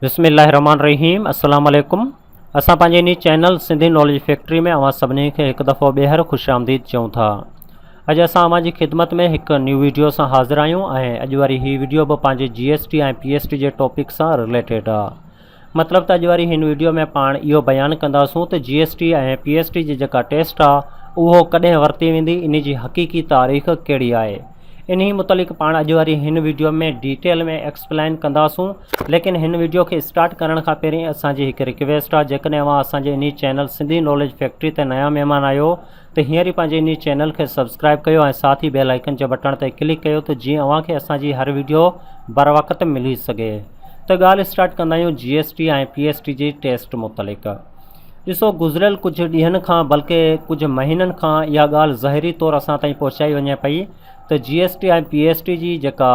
بسم الله الرحمن الرحيم السلام عليڪم اسان پنهنجي انهي چينل سنڌي ناليج فيڪٽري ۾ اوهان سڀني کي هڪ دفعو ٻيهر خوش آمديد چئون ٿا اڄ اسان اوهان جي خدمت ۾ هڪ نيو ويڊيو سان حاضر آهيون ۽ اڄ واري هي ويڊيو به پنهنجي G S T ۽ P S T جي ٽاپڪ سان رليٽيڊ آهي مطلب ته اڄ واري هن ويڊيو ۾ پاڻ اهو بيان ڪنداسون ته G S T ۽ P S T جي جيڪا ٽيسٽ آهي اهو ڪڏهن ورتي ويندي ان جي حقيقي تاريخ ڪهڙي آهي انهي متعلق پاڻ اڄ واري هن ويڊيو ۾ ڊيٽيل ۾ ايڪسپلائن ڪنداسون ليڪن هن وڊيو کي اسٽارٽ ڪرڻ کان پهرين اسان جي هڪ رڪويسٽ آ جيڪڏهن اوهان اسان جي انهي چينل سنڌي ناليج فيڪٽري تي نيا مهمان آهيو ته هينئر ئي پنهنجي انهي چينل کي سبسڪرائب ڪيو ۽ ساٿ ئي بيل آئيڪن جي بٽڻ تي ڪلڪ ڪيو ته جيئن اوهان کي اسان جي هر وڊيو بروقت ملي سگهي ته ڳالهه اسٽارٽ ڪندا آهيون G S T ۽ P S T جي ٽيسٽ متعلق ڏسو گذريل ڪجهه ڏينهن کان بلڪه ڪجهه مهينن کان اها ڳالهه ظاهري طور اسان تائين پهچائي وڃي پئي ته G S T ۽ P S T جي جيڪا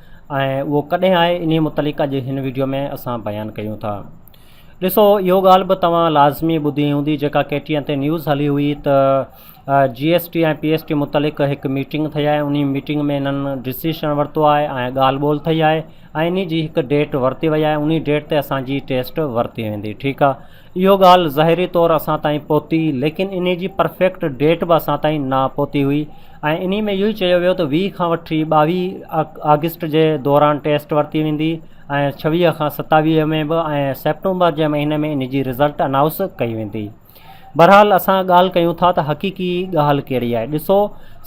۽ اهو ڪڏهن آهي انهي متعلق اڄ هن وڊيو ۾ اسان بيان ڪيون ٿا. ڏسو اهو ڳالهه به توهان لازمي ٻڌي هوندي جيڪا ڪي ٽي اين تي نيوز هلي هئي ته G S T ۽ P S T متعلق هڪ ميٽنگ ٿئي آهي انهي ميٽنگ ۾ انهن ڊسيشن ورتو آهي ۽ ڳالهه ٻولهه ٿئي آهي ۽ انهي جي هڪ ڊيٽ ورتي وئي آهي انهي ڊيٽ تي اسان جي ٽيسٽ ورتي ويندي ٺيڪ آهي. اهو ڳالهه ظاهري طور اسان تائين پهتي ليڪن انهي جي پرفيڪٽ ڊيٽ به اسان تائين نه پهتي هئي ۽ انهي ۾ اهو ئي چيو ويو ته ويهه کان وٺي ٻاويهه آگسٽ جي دوران ٽيسٽ ورتي ويندي ۽ ڇويهه کان ستاويهه ۾ به ۽ سيپٽمبر جي مهيني ۾ انهي جي رزلٽ انائوس ڪئي ويندي بهرحال اسان ڳالهه ڪيون ٿا ته حقيقي ڳالهه ڪهڙي آهي ڏسو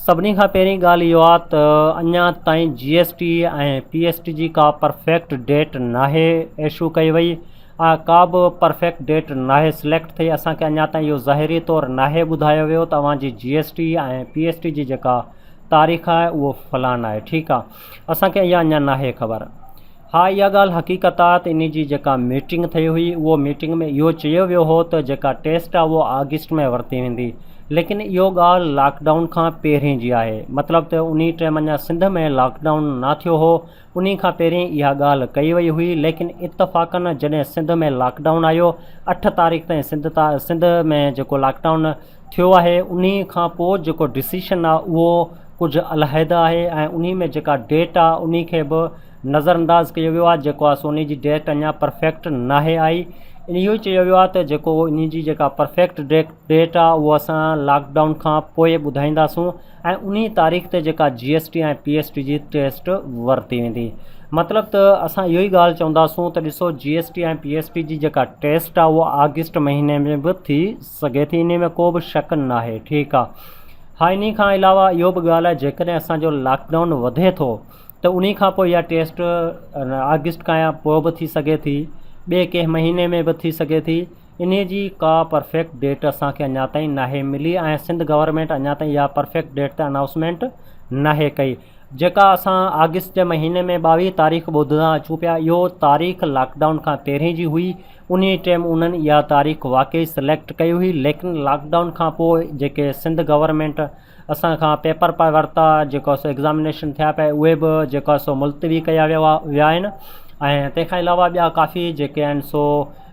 سڀني کان پهرين ڳالهه اهو آهي ته اڃا تائين G S T ۽ P S T جي ڪا پرفيڪٽ ڊيٽ ناهي ايشو ڪئي وئي اها ڪابه پرفيڪٽ ڊيٽ ناهي سليڪٽ ٿئي، اسان کي اڃا تائين اهو ظاهري طور ناهي ٻڌايو ويو ته اوهان جي G S T ۽ P S T جي جيڪا تاريخ آهي اهو فلان آهي ٺيڪ آهي اسان کي اها اڃا ناهي خبر. ها اها ڳالهه حقيقت آهي ته انهي جي جيڪا ميٽنگ ٿئي هئي اهو ميٽنگ ۾ اهو چيو ويو هو ته جيڪا ٽيسٽ آهي اهو آگسٽ ۾ ورتي ويندي ليڪن اهو ڳالهه لاڪ ڊائون کان پهرين جي آهي مطلب ته انهي ٽيم اڃا سنڌ ۾ لاڪ ڊائون نه ٿيو هو انهي کان پهرين اها ڳالهه ڪئي وئي هئي ليڪن اتفاقاً جڏهن سنڌ ۾ لاڪ ڊائون آيو اٺ تاريخ تائين سنڌ تا سنڌ ۾ جيڪو لاڪ ڊائون ٿيو آهي انهي کان پوء جيڪو ڊسيشن آهي اهو ڪجهه علحده آهي ۽ انهي ۾ جيڪا ڊيٽ آهي انهي کي به نظر انداز ڪيو ويو آهي جيڪو آهي سو انهي جي ڊيٽ اڃا پرفيڪٽ ناهي آئي ان اهو چيو ويو آهي ته جيڪو انهي جي جيڪا پرفيڪٽ ڊيٽ ڊيٽ آهي اهو اسان لاڪ ڊائون کان پوء ٻڌائينداسون ۽ انهي تاريخ تي جيڪا G S T ۽ P S T جي ٽيسٽ ورتي ويندي مطلب ته اسان اهو ئي ڳالهه چونداسون ته ڏسو G S T ۽ P S T جي جيڪا ٽيسٽ آهي اها آگسٽ مهيني ۾ به ٿي سگهي ٿي انهي ۾ ڪو به شڪ ناهي ٺيڪ آهي ها انهي کان علاوه اهو به ڳالهه آهي جيڪڏهن اسان جو لاڪ ڊائون وڌي ٿو ته انهي کان پوء اها ٽيسٽ آگسٽ کان يا پوء به ٿي سگهي ٿي ٻي ڪنهن مهيني ۾ به ٿي سگهي ٿي انهي جي ڪا پرفيڪٽ ڊيٽ اسان کي اڃا تائين ناهي ملي ۽ سنڌ گورنمينٽ اڃا تائين اها پرفيڪٽ ڊيٽ ته انائوسمينٽ ناهي ڪئي جيڪا اسان آگسٽ جي مهيني ۾ ٻاويهه تاريخ ٻڌندا اچون پيا اهو تاريخ لاڪڊائون کان پهرين جي هئي انهي ٽيم انهن اها تاريخ واقعي سليڪٽ ڪئي هئي ليڪن لاڪڊائون کان پوء جيڪي سنڌ گورنمينٽ اسان کان پيپر پئي ورتا جيڪو سو ايگزامينيشن ٿيا پئي اهي به جيڪا سو ملتوي ڪيا ويا ويا آهن ۽ تنهن کان علاوه ٻيا ڪافي جيڪي آهن سو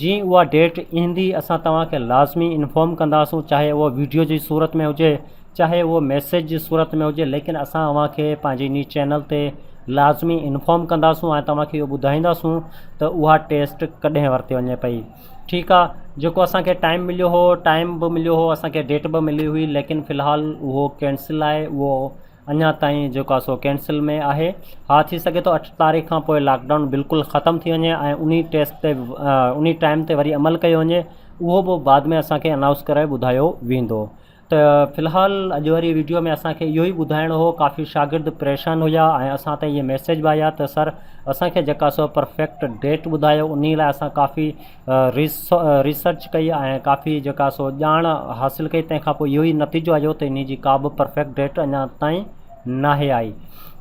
جيئن اها ڊيٽ ايندي اسان توهان کي لازمي انفارم ڪنداسون چاهي اهو ويڊيو جي صورت ۾ هجي چاهي اهو ميسيج جي صورت ۾ هجي ليڪن اسان اوهان کي پنهنجي انهي چينل تي لازمي انفارم ڪنداسون ۽ توهان کي اهو ٻڌائينداسون ته اها ٽيسٽ ڪڏهن ورتي وڃي پئي ٺيڪ آ جيڪو اسانکي ٽائيم مليو هو ٽائيم به مليو هو اسانکي ڊيٽ به ملي هئي ليڪن فلحال اهو ڪينسل آهي اهو اڃا تائين جيڪو آهي سو ڪينسل ۾ آهي ها ٿي سگهي ٿو اٺ تاريخ کان پوء لاڪ ڊائون بلڪل ختم ٿي وڃي ۽ انهي ٽيسٽ تي انهي ٽائيم تي وري عمل ڪيو وڃي اهو به بعد ۾ اسانکي انائونس ڪري ٻڌايو ويندو ته في الحال اڄ واري ويڊيو ۾ اسانکي اهو ئي ٻڌائڻو هو ڪافي شاگرد پريشان هيا ۽ اسان تائين اهي ميسيج به آيا ته سر اسانکي جيڪا سو پرفيڪٽ ڊيٽ ٻڌايو انهي لاء اسان ڪافي ريسرچ ڪئي ۽ ڪافي جيڪا سو ڄاڻ حاصل ڪئي تنهن کان اهو ئي نتيجو آيو ته ان جي ڪابه پرفيڪٽ ڊيٽ اڃا تائين ناهي آئي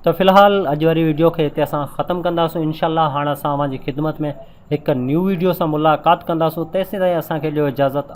ته في الحال اڄ واري ويڊيو کي هتي اسان ختم ڪنداسون انشاء الله هاڻ اسان اوهان جي خدمت ۾ هڪ نيو ويڊيو سان ملاقات ڪنداسون تيسين تائين اسانکي ڏيو اجازت